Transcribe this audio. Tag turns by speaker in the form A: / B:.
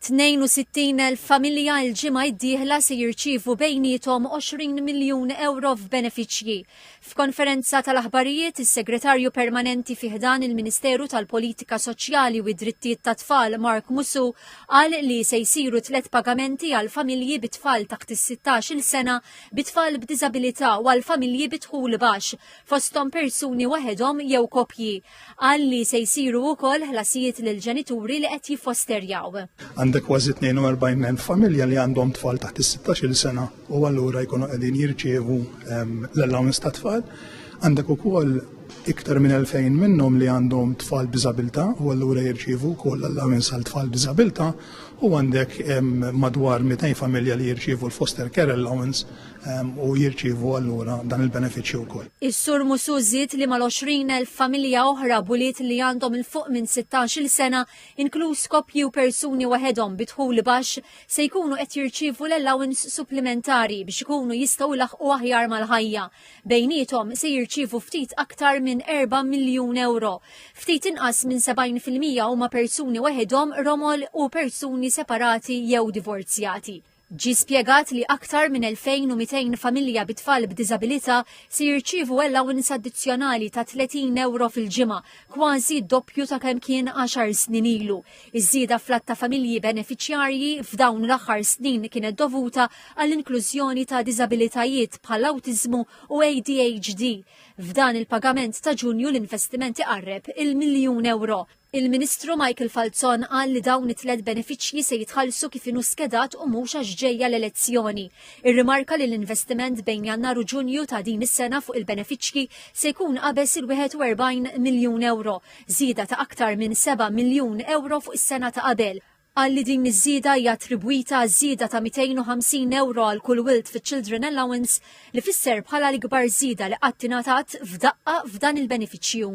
A: 62,000 familja l-ġimgħa d-dieħla se jirċievu bejniethom 20 miljun ewro f'benefiċċji. F'konferenza tal-aħbarijiet, is-Segretarju Permanenti fi ħdan il-Ministeru tal-Politika Soċjali u d-Drittijiet tat-Tfal Mark Musu qal li se jsiru tliet pagamenti għal familji bi tfal taħt is-16-il sena, bi tfal b'diżabilità u għal familji bi dħul baxx, fosthom persuni waħedhom jew koppji. Qal li se jsiru wkoll ħlasijiet lill-ġenituri li qed jiffosterjaw. Għandek kważi 42,000
B: familja li għandhom tfal taħt is-16-il sena u allura jkunu qegħdin jirċievu l-allowance tat-tfal. Għandek ukoll iktar minn 2000 minnhom li għandhom tfal b'diżabilità u allura jirċievu wkoll allowance għal tfal b'diżabilità u għandek madwar 200 familja li jirċievu l-foster care allowance u jirċievu allura dan il-benefiċċju wkoll. Is-Sur Musu
A: żied li mal-20,000 familja oħra buliet li għandhom il fuq minn 16-il sena, inkluż koppji u persuni waħedhom bi dħul baxx, se jkunu qed jirċievu l-allowance supplimentari biex ikunu jistgħu jlaħqu aħjar mal-ħajja. Bejniethom se jirċievu ftit aktar minn 4 miljun euro. Ftit inqas minn 70% huma persuni waħedhom, romol u persuni separati jew divorzjati. Ġie spjegat li aktar minn 2,200 familja bi tfal b'diżabilità se jirċievu allowance addizzjonali ta' 30 ewro fil-ġimgħa, kważi d-doppju ta' kemm kien għaxar snin ilu. Iż-żieda fl-għadd ta' familji benefiċjarji f'dawn l-aħħar snin kienet dovuta għall-inklużjoni ta' diżabilitajiet bħall-awtiżmu u ADHD. F'dan il-pagament ta' Ġunju l-investiment iqarreb il-miljun ewro. Il-Ministru Michael Falzon qal li dawn it-tliet benefiċċji se jitħallsu kif inhu skedat u mhux għax ġejja l-elezzjoni. Irrimarka li l-investiment bejn Jannar u Ġunju ta' din is-sena fuq il-benefiċċji se jkun qabeż il-41 miljun ewro, żieda ta' aktar minn seba' miljun ewro fuq is-sena ta' qabel. Qal li din iż-żieda hija attribwita għaż-żieda ta' 250 ewro għal kull wild fiċ-Children Allowance li fisser bħala l-ikbar żieda li qatt ingħatat f'daqqa f'dan il-benefiċċju.